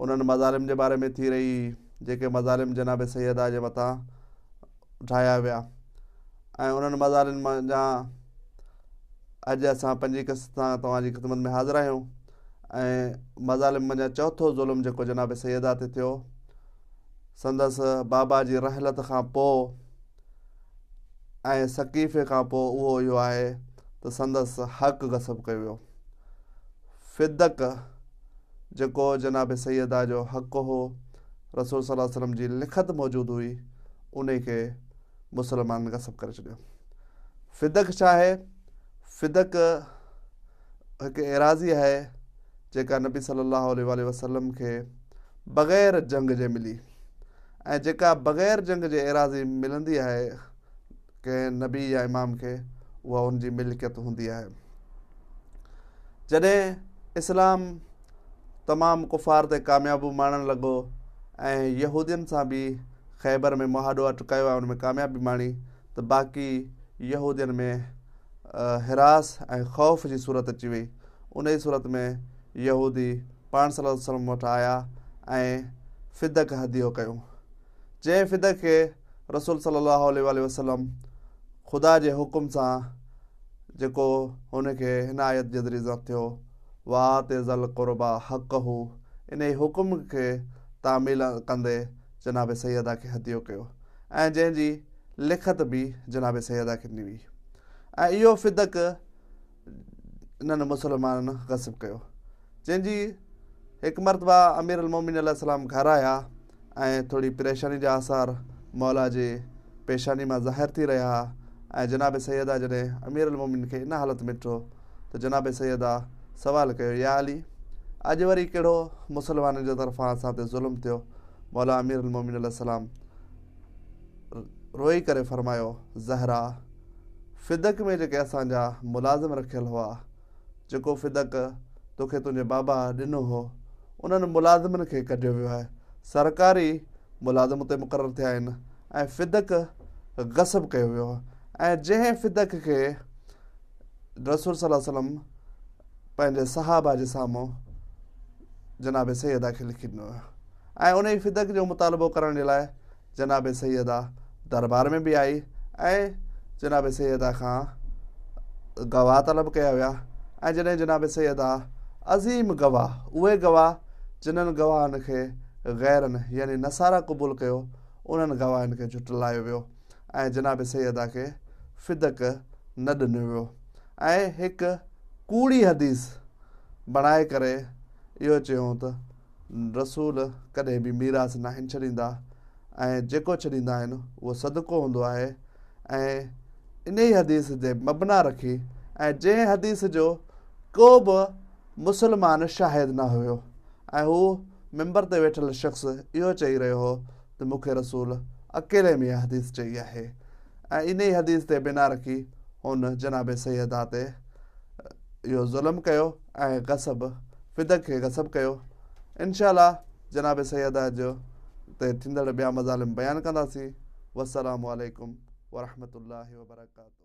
انهن مظالم جي باري ۾ ٿي رهي هئي، جيڪي مظالم جناب سيدا جي مٿان ڍايا ويا ۽ انهن مظالم منجهان اڄ اسان پنجين قسط سان توهان جي خدمت ۾ حاضر آهيون ۽ مظالم منجهان چوٿو ظلم جيڪو جناب سيدا تي ٿيو سندس بابا جي رحلت کان پوء ۽ ثقيفي کان پوء اهو اهو آهي ته سندس حق غصب ڪيو ويو فدق جيڪو جناب سيدا جو حق هو، رسول صلي الله عليه وسلم جي لکت موجود هئي، انهي کي مسلمانن غصب ڪري ڇڏيو. فدڪ ڇا آهي؟ فدڪ هڪ ايراضي آهي جيڪا نبي صلي الله عليه وآله وسلم کي بغير جنگ جي ملي ۽ جيڪا بغير جنگ جي ايراضي ملندي آهي ڪنهن نبي يا امام کي اها ان جي ملڪيت هوندي آهي. جڏهن اسلام تمام ڪفار تي ڪاميابو ماڻڻ لڳو ۽ يهودين سان به خيبر ۾ مهاڏو اٽ ڪيو ۽ ان ۾ ڪاميابي ماڻي ته باقي يهودين ۾ حراس ۽ خوف جي صورت اچي وئي انهي صورت ۾ يهودي پاڻ صلي الله عليه وسلم وٽ آيا ۽ فدڪ هديو ڪيو جنهن فدڪ کي رسول صلي الله عليه واٰله وسلم خدا جي حڪم سان جيڪو هن کي هن آيت جي ذريعي زنت ٿيو وات ذل قربا حق هو انهي حڪم کي تعميل ڪندي جناب سيدا کي هديو ڪيو ۽ جنهن جي لکت به جناب سيدا کي ڏني وئي ۽ اهو فدڪ انهن مسلمانن غصب ڪيو. جنهن جي هڪ مرتبه امير المومنين عليه السلام گهر آيا ۽ ٿوري پريشاني جا آثار مولا جي پيشاني مان ظاهر ٿي رهيا ها ۽ جناب سيده جڏهن امير المومنين کي ان حالت ۾ ڏٺو ته جناب سيده سوال ڪيو يا علي! اڄ وري ڪهڙو مسلمانن جي طرفان اسان تي ظلم ٿيو؟ مولا امير المومنين عليه السلام روئي ڪري فرمايو، زهرا! فدڪ ۾ جيڪي اسان جا ملازم رکيل هئا، جيڪو فدڪ توکي تنهنجي بابا ڏنو هو، انهن ملازمن کي ڪڍيو ويو آهي. سرڪاري ملازم اتي مقرر ٿيا آهن ۽ فدڪ غصب ڪيو ويو آهي ۽ جنهن فدڪ کي رسول صلي الله عليه وسلم پنهنجي صحابه جي سامهون جناب سيدا کي لکي ڏنو ويو ۽ انهي فدڪ جو مطالبو ڪرڻ جي لاء جناب سيده دربار ۾ به آئي ۽ جناب سيده کان گواهه طلب ڪيا ويا ۽ جڏهن جناب سيده عظيم گواهه اهي گواهه جنن گواهن کي غيرن يعني نصارا قبول ڪيو انهن گواهن کي جهٽلايو ويو ۽ جناب سيده کي فدڪ نه ڏنو ويو ۽ هڪ ڪوڙي حديث بڻائي ڪري اهو چيائون ته رسول ڪڏهن به ميراث ناهن ڇڏيندا ۽ جيڪو ڇڏيندا آهن اهو صدقو هوندو آهي ۽ انهي حديث تي مبنا رکي ۽ جنهن حديث جو ڪو به مسلمان شاهد نه هيو ۽ هو ممبر تي ويٺل شخص اهو چئي رهيو هو ته مون کي رسول اڪيلي ۾ اها حديث چئي آهي ۽ انهي حديث تي بنا رکي هن جناب سيدا تي اهو ظلم ڪيو ۽ غصب فدق کي غصب ڪيو انشاء الله جناب سيدا جو تي ٿيندڙ ٻيا مظالم بيان ڪنداسين والسلام عليڪم ورحمة الله وبرڪاته.